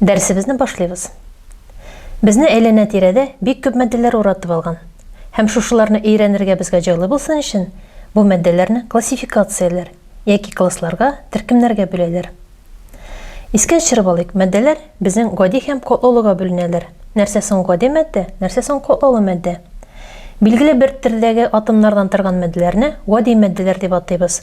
Дәресебезне башлыйбыз. Безне әйләнә-тирәдә бик күп матдәләр уратып алган. Һәм шушыларны өйрәнергә безгә җайлы булсын өчен, бу матдәләрне классификацияләр яки классларга, төркемнәргә бүләләр. Искә төшереп алыйк, матдәләр безнең гади һәм котлолыга бүленәләр. Нәрсә соң гади матдә, нәрсә соң котлолы матдә? Билгеле бер төрдәге атомнардан торган матдәләрне гади матдәләр дип атыйбыз.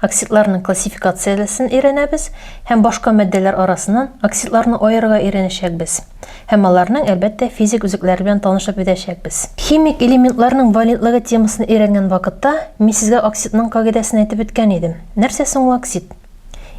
Оксидларның классификациялесен өйрәнәбез һәм башка матдәләр арасыннан оксидларны аерырга өйрәнәчәкбез һәм аларның, әлбәттә, физик үзәкләре белән танышып үтәчәкбез. Химик элементларның валентлыгы темасын өйрәнгән вакытта мин сезгә оксидның кагыйдәсен әйтеп үткән идем. Нәрсә соң ул оксид?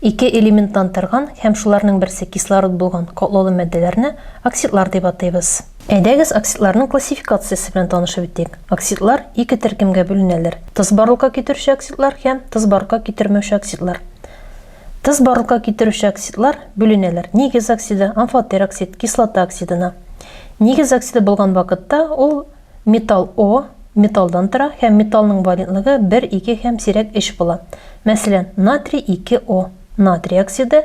Ике элементтан торган һәм шуларның берсе кислород булган катлаулы матдәләрне оксидлар дип атыйбыз. Әйдәгез оксидларның классификациясе белән танышып үтик. Оксидлар ике төркемгә бүленәләр, тыз барлыкка китерүче оксидлар һәм тыз барлыкка китермәүче оксидлар. Тыз барлыкка китерүче оксидлар бүленәләр нигез оксиды, амфотер оксид, кислота оксидына. Нигез оксиды булган вакытта ул металл О, металлдан тора һәм металлның валентлыгы 1, 2 һәм сирәк 3 була. Мәсәлән, натрий 2О, натрий оксиды,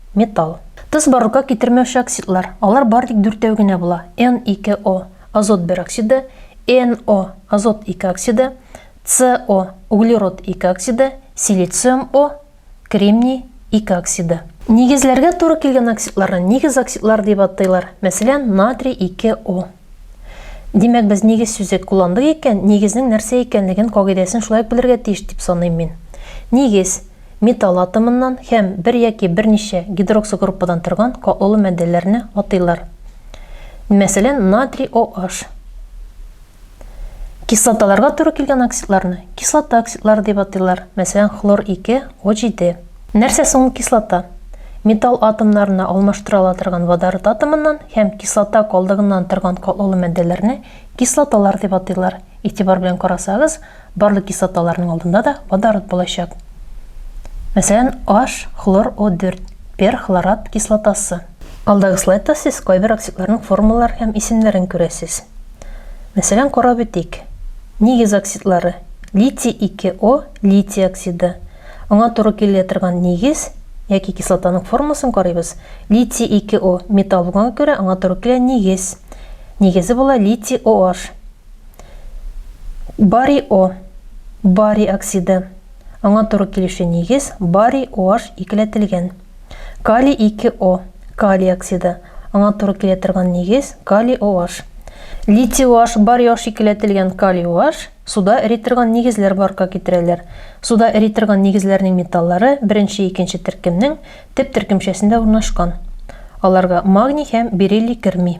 Металл. Тоз барлыкка китермәүче оксидлар, алар бары тик дүртәү генә була, N2O, азот бер оксиды, NO, азот ике оксиды, CO, углерод ике оксиды, силициум O, кремний ике оксиды. Нигезләргә туры килгән оксидларны нигез оксидлары дип атыйлар, мәсәлән, натрий ике O. Димәк, без нигез сүзе кулландык икән, нигезнең нәрсә икәнлеген кагыйдәсен шулай ук белергә тиеш дип саныйм мин. Нигез, металл атомыннан һәм бер яки берничә гидроксогруппадан торган катлаулы матдәләрне атыйлар. Мәсәлән, натрий OH. Кислоталарга туры килгән оксидларны кислота оксидлары дип атыйлар, мәсәлән, хлор 2, O7. Нәрсә соң ул кислота? Металл атомнарына алмаштыра ала торган водород атомыннан һәм кислота калдыгыннан торган катлаулы матдәләрне кислоталар дип атыйлар. Игътибар белән карасагыз, Барлык кислоталарның алдында да водород булачак. Мәсәлән, H, хлор O4, перхлорат кислотасы. Алдагы слайдта сез кайбер оксидларның формалар һәм исемнәрен күрәсез. Мәсәлән, карап үтик. Нигез оксидлары. Литий 2 O, литий оксиды. Аңа туры килә торган нигез яки кислотаның формасын карыйбыз. Литий 2 O, металл булганга күрә, аңа туры килә нигез. Нигезе була литий OH. Барий О. Барий оксиды. Аңа туры килүче нигез барий OH икеләтелгән. Калий 2 О. Калий оксиды. Аңа туры килә торган нигез калий OH. Литий OH, барий OH икеләтелгән калий OH суда эри торган нигезләр барка китерәләр. Суда эри торган нигезләрнең металлары беренче икенче төркемнең төп төркемчәсендә урнашкан. Аларга магний һәм бериллий керми.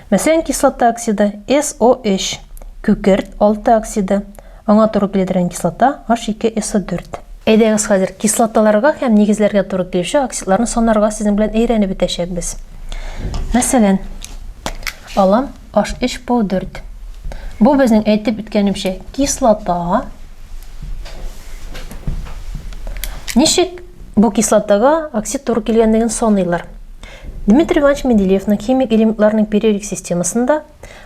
Мәсәлән, кислота оксиды, SO3, күкерт, алты оксиды, аңа туры килә торган кислота, H2SO4. Әйдәгез хәзер кислоталарга һәм нигезләргә туры килүче оксидларны санарга сезнең белән әйрәнеп бетәчәкбез. Мәсәлән, алам H3PO4. Бу безнең әйтеп үткәнемчә кислота. Ничек бу кислотага оксид туры килгәнлеген саныйлар? Дмитрий Иванович Менделеевның химик элементларның периодик системасында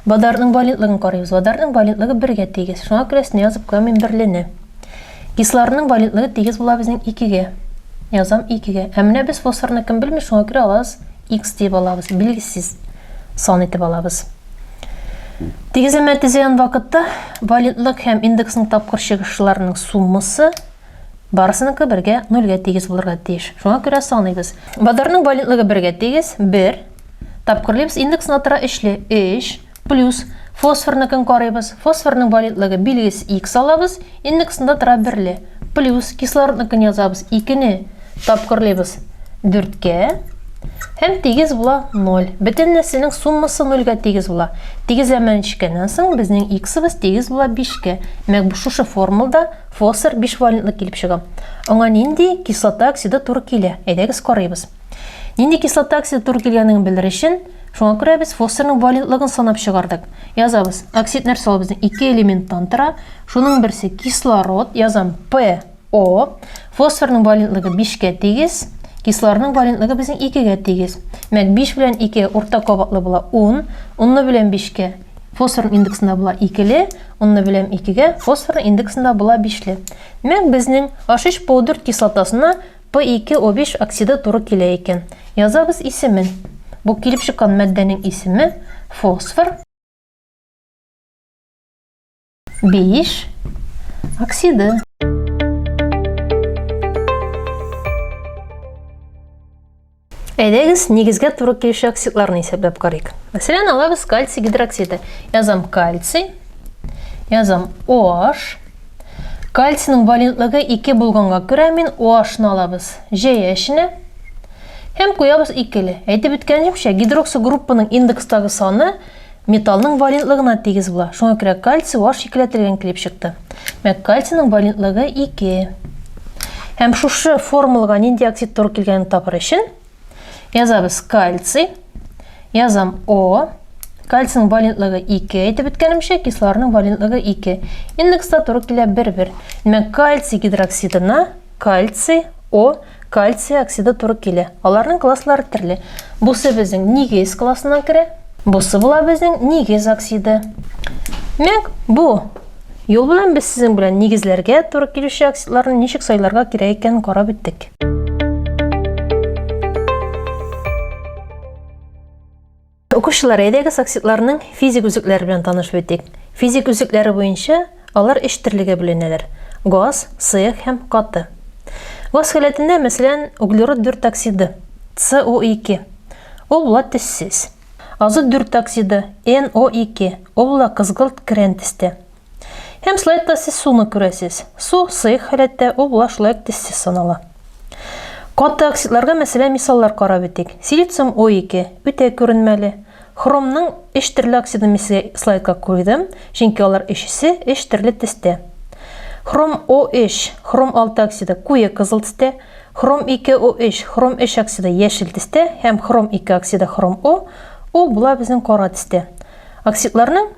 водородның валентлыгын карыйбыз. Водородның валентлыгы бергә тигез. Шуңа күрә өстенә язып куям мин берлене. Кислородның валентлыгы тигез була безнең икегә. Язам икегә. Ә менә без фосфорны кем белми, шуңа күрә алабыз x дип алабыз. Билгесез сан итеп алабыз. Тигезләмә төзегән вакытта валентлык һәм индексның тапкыр чыгышларының суммасы Барысыныкы бергә нольгә тигез булырга тиеш. Шуңа күрә саныйбыз. Базарның валентлыгы бергә тигез, бер. Тапкырлыйбыз индексына тора өчле, өч. Плюс фосфорныкын карыйбыз. Фосфорның валентлыгы билгес икс алабыз, индексында тора берле. Плюс кислородныкын язабыз, икене тапкырлыйбыз дүрткә. Һәм тигез була ноль. Бөтен нәрсәнең суммасы нольгә тигез була. Тигезләмәне төшкәннән соң безнең иксыбыз тигез була бишкә. Мәк, шушы формулда Фосфор бишвалентлы килеп чыга. Аңа нинди кислота оксиды туры килә? Әйдәгез карыйбыз. Нинди кислота оксиды туры килгәнлеген белер өчен, шуңа күрә без фосфорның валентлыгын санап чыгардык. Язабыз. Оксид нәрсә ул безнең? Ике элементтан тора. Шуның берсе кислород, язам ПО. Фосфорның валентлыгы 5-кә тигез, кислорның валентлыгы безнең 2-гә тигез. Мәк 5 белән 2 урта кабатлы була 10, 10 белән 5-кә Фосфор индексында була икеле, онны беләм икегә, фосфор индексында була бишле. Мәк безнең ашиш паудырт кислотасына P2O5 оксиды туры килә икән. Язабыз исемен. Бу килеп чыккан мәддәнең исеме фосфор. Биш оксиды. Әйдәгез, нигезгә туры килүче оксидларны исәпләп карыйк. Мәсәлән, алабыз кальций гидроксиды. Язам кальций, язам OH. Кальцийның валентлыгы 2 булганга күрә мин OH-ны алабыз. Җәя эченә һәм куябыз икеле. Әйтеп үткәнемчә, гидроксигруппаның индекстагы саны Металлның валентлыгына тигез була. Шуңа күрә кальций ваш икеләтелгән килеп чыкты. Мәк кальцийның валентлыгы 2. Һәм шушы формулага нинди оксид туры килгәнен табыр өчен язабыз кальций, язам О, кальцийның валентлыгы 2 әйтеп үткәнемчә, кислорның валентлыгы 2. Индекста туры килә 1-1. Димәк, кальций гидроксидына кальций О Кальций оксиды туры килә. Аларның класслары терле. Бусы безнең нигез классына керә. Бусы була безнең нигез оксиды. Мәк, бу юл белән без сезнең белән нигезләргә туры килүче оксидларны ничек сайларга кирәк икәнен карап үттек. Укучылар, әйдәгез оксидларның физик үзекләре белән танышып үтик. Физик үзекләре буенча алар өч төрлегә бүленәләр. Газ, сыек һәм каты. Газ халәтендә, мәсәлән, углерод 4 оксиды, CO2. Ул була төссез. Азот 4 оксиды, NO2. Ул була кызгылт крән төстә. Һәм слайд та сез суны күрәсез. Су сыйк халәттә ул була шулай тиссез санала. Каты оксидларга мәсәлә мисаллар карап үтик. Силициум O2 үтә күренмәле. Хромның эш төрле оксиды мисале слайдка куйдым, чөнки алар өчесе эш төрле тестә. Хром O3, хром 6 оксиды куе кызыл тестә, хром 2 O3, хром 3 оксиды яшел тестә һәм хром 2 оксиды хром O ул була безнең кара тестә. Оксидларның